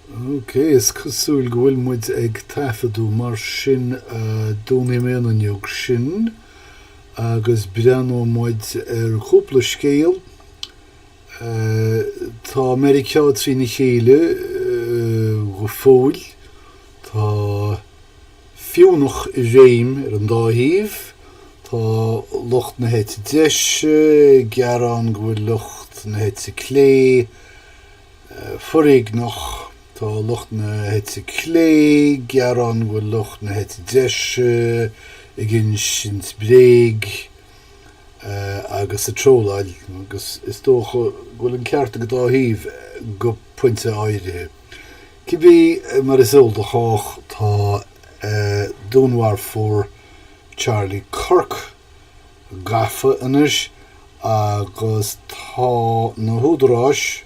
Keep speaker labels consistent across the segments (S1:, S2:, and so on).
S1: OK, is cosúil go bhfuil muid ag taifeadú, mar sin dúnfaidh mé an fhuinneog sin agus breathnóidh muid ar chúpla scéal. Tá Meiriceá trína chéile go fóill. Tá. fiúnach i réim ar an dá thaobh. Tá lucht na heite deise ag gearán go bhfuil lucht na heite clé foréigneach. Tá lucht na heite clé ag gearán go bhfuil lucht na heite deise ag insint bréag agus ag trolláil agus is dócha go bhfuil an ceart ag an dá thaobh go pointe áirithe. Cibé mar is eol do chách tá dúnmharfóir Charlie Kirk gafa anois agus tá na húdaráis,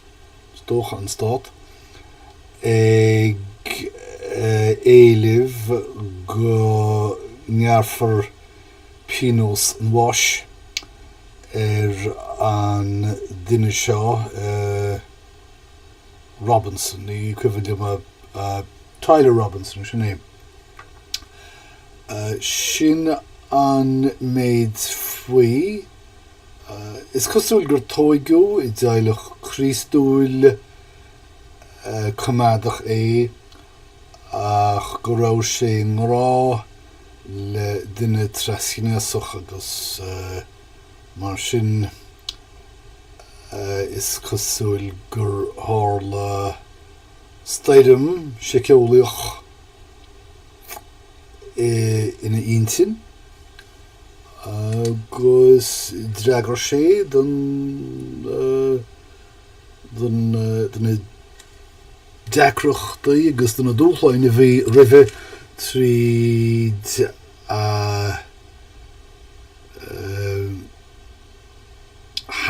S1: is dócha an stát, ag éileamh go ngearrfar pionós an bháis ar an duine seo. Robinson, ní cuimhin liom a. Tyler Robinson, sin é. Sin an méid faoi. Is cosúil gur tóigeadh i dteaghlach Críostúil coimeádach é ach go raibh sé i ngrá le duine trasghnéasach agus. Mar sin, is cosúil gur tharla stoirm sheiceolaíoch ina intinn agus d'fhreagair sé do na deacrachtaí agus do na dúshláin a bhí roimhe tríd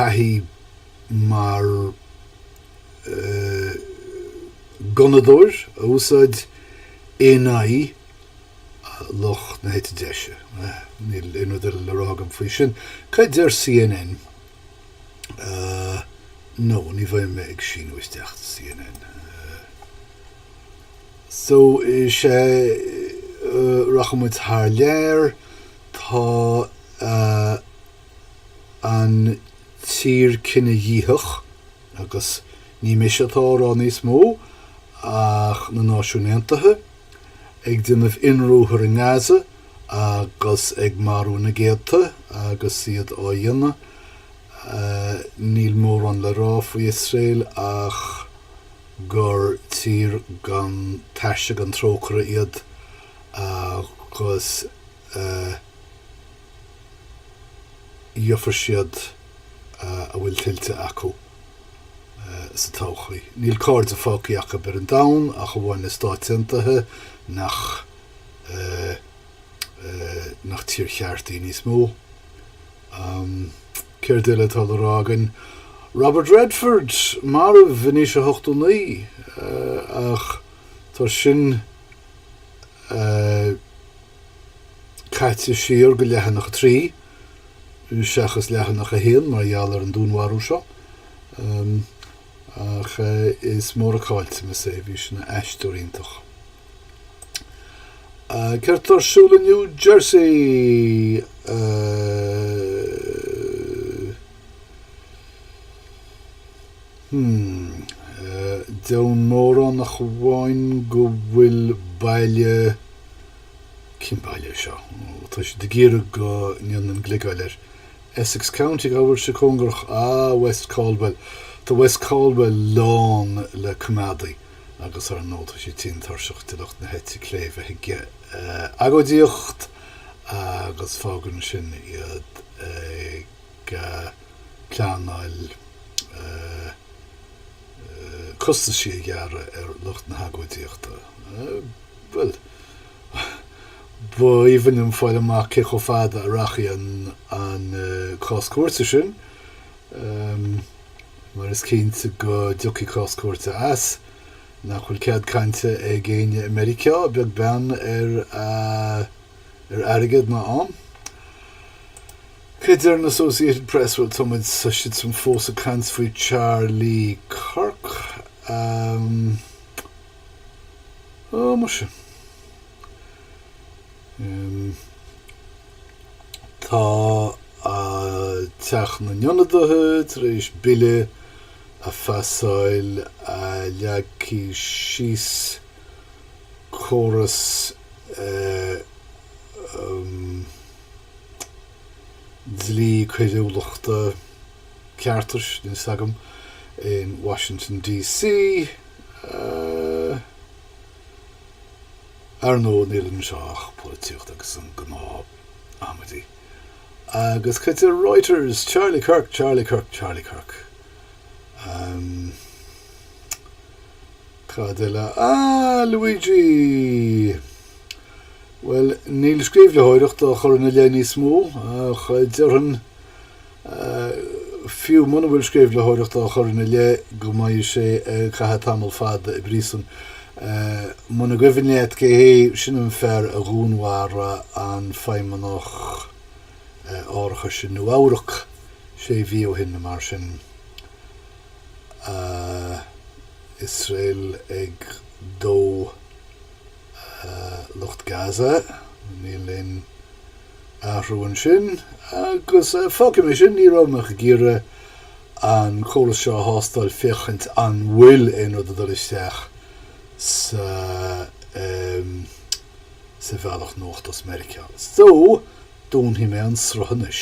S1: thaithí mar ghunnadóir a úsáid in aghaidh lucht na heite deise. Níl aon rud eile le rá agam faoi sin. Cad deir CNN? No, ní bheidh mé ag síniú isteach do CNN. So is ea, rachaidh muid thar lear, tá an tír cinedhíothach agus ní mise atá á rá níos mó ach na Náisiúin Aontaithe, ag déanamh ionruathar i nGaza agus ag marú na gcéadta agus iad á dhéanamh. Níl mórán le rá faoi Iosrael ach. gur tír gan taise gan trócaire iad agus gheobhaidh siad a bhfuil tuillte acu sa todhchaí. Níl cairde fágtha acu ar an domhan ach amháin na Stáit Aontaithe nach eh, nach tír cheart í níos mó. Am, céard eile atá le rá againn? Robert Redford, marbh in aois a hochtú naoi, eh, ach tá sin, eh, caite siar go leathanach a trí, seachas leathanach a haon mar gheall ar an dúnmharú seo. Am. Ach is mór an caillteanas é, bhí sé ina aisteoir iontach. Céard atá ar siúl i New Jersey? Hmm. Dheamhan mórán ach amháin go bhfuil baile, cén baile é seo? Ó, tá siad ag iarraidh go ndéanfainn gliogáil air. Essex County ábhar cóngarach. West Caldwell. Tá West Caldwell lán le coimeádaigh agus ar ndóigh tá siad tinn tuirseach de lucht na heite clé bheith ag agóidíocht agus fágann sin iad ag pleanáil costaisí a ghearradh ar lucht na hagóidíochta. Bhuel. Ba aoibhinn liom fáil amach cé chomh fada a rachaidh an cás cúirte sin mar is cinnte go dtiocfaidh cás cúirte as. Nach bhfuil cead cainte ag éinne i Meiriceá, beag beann ar ar airgead ná am? Céard deir an Associated Press? Bhuel, tá muid, tá siadsan fós ag caint faoi Charlie Kirk. Á muise. Em, tá, á, Teach na nIonadaithe tar éis bille a phasáil a leagfaidh síos córas, eh, em, dlí coiriúlachta, ceartais, níl 'fhios agam, in Washington DC. Ar ndóigh níl anseo ach polaitíocht agus an gnáth amaidí agus chuig Reuters, Charlie Kirk, Charlie Kirk, Charlie Kirk. Cad eile? Ah, Luigi! Bhuel, níl sceimhlitheoireacht á chur ina leith níos mó ach déarfainn. Fiú muna bhfuil sceimhlitheoireacht á chur ina leith go mbeidh sé ag caitheamh tamall fada i bpríosún, muna gcuimhin leat cé hé, sin an fear a dhúnmharaigh an feidhmeannach árachais i Nua-Eabhrac sé mhí ó shin, mar sin Iosrael ag dó. Lucht Gaza, níl aon athrú ansin agus fágfaidh mé sin. Ní raibh mé ach ag iarraidh an córas seo a thástáil féachaint an bhfuil aon rud ag dul isteach sa sa bhealach nuachta as Meiriceá. So, dúnfaidh mé an sruth anois.